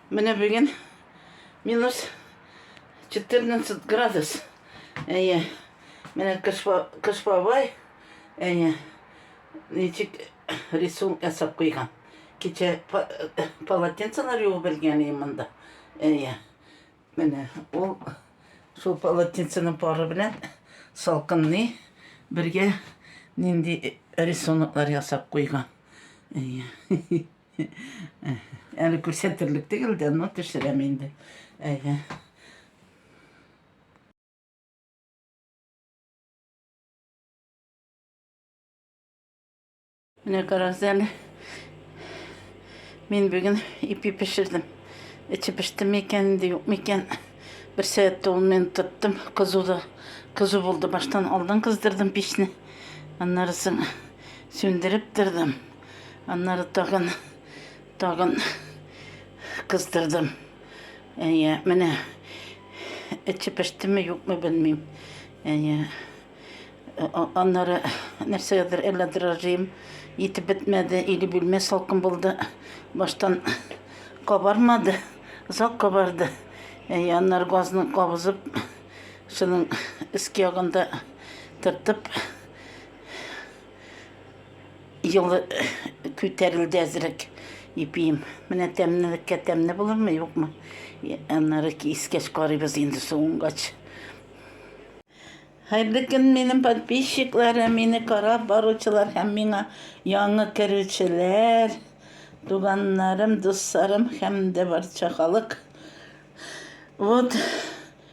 Менә бүген минус 14 градус. Әйе. Менә кыш бабай. Әйе. Ничек рисунок ясап куйган. Кичә полотенцелар юып белгән ием монда. Әйе. Менә ул шул полотенценың пары белән салкынны бергә нинди рисунклар ясап куйган. Әйе. Әле күрсәтерлек түгел дә, но төшерәм инде. Әйе. Менә карагыз әле. Мин бүген ипи пешердем. Эче пеште микән, инде юк микән. Бер сәгатьтә ул мен тоттым. Кызу да кызу булды. Баштан алдан кыздырдым печне. Аннары соң сүндереп тордым. Аннары тагын, тагын кыздырдым. Әйе, менә эче пештеме, юкмы белмим. Әйе. Аннары нәрсәгәдер әллә дрожжим итеп бетмәде, или бүлмә салкын булды. Баштан кабармады, озак кабарды. Әйе, аннары газны кабызып, шуның өске ягында тыртып Ел күтәрелде әзрәк ипием. Менә тәмнелеккә тәмне булырмы, юкмы? Аннары искәч карыйбыз инде суынгач. Хәерле көн минем подписчикларым, мине карап баручылар һәм миңа яңы керүчеләр, туганнарым, дусларым һәм дә барча халык. Вот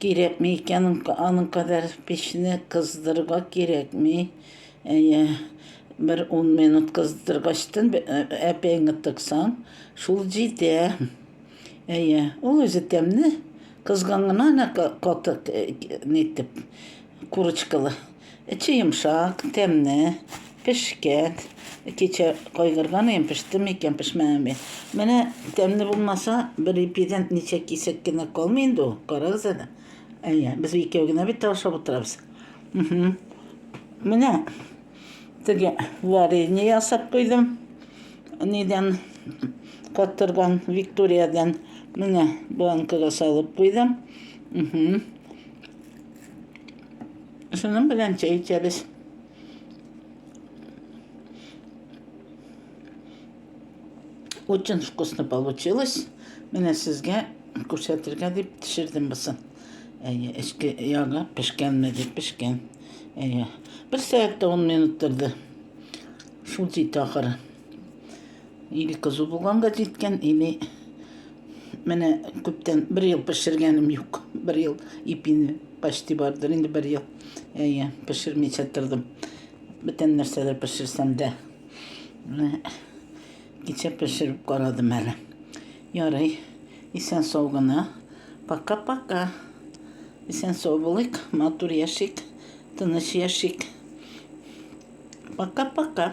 Кирәкми икән аның кадәр печне кыздырырга кирәкми. Әйе, бер ун минут кыздыргачтын әпәеңе тыксаң, шул җитә. Әйе, ул үзе тәмле, кызган гына катык нитеп. Курочкалы. Эче йомшак, тәмне, пешкән. Кичә кайгырган идем, пештеме икән, пешмәгәнме. Менә тәмне булмаса, бер ипидән ничә кисәк кенә калмый инде ул. Карагыз әле. Әйе, без икәү генә бит ашап утырабыз. Менә теге варенье ясап куйдым. Нидән каттырган Викториядән. Менә банкага салып куйдым. Шуның белән чәй эчәбез. Очень вкусно получилось. Менә сезгә күрсәтергә дип пешердем бусын. Әйе, эчке ягы пешкәнме дип пешкән. Әйе. Бер сәгатьтә 10 минут торды. Шул җитә ахыры. Или кызу булганга җиткән, или менә күптән бер ел пешергәнем юк. Бер ел ипине почти бардыр инде бер ел. Әйе, пешермичә тордым. Бүтән нәрсәләр пешерсәм дә. Менә кичә пешереп карадым әле. Ярый. Исән сау гына. Пока-пока. Исән сау булыйк, матур яшик, тыныч яшик. Пока-пока.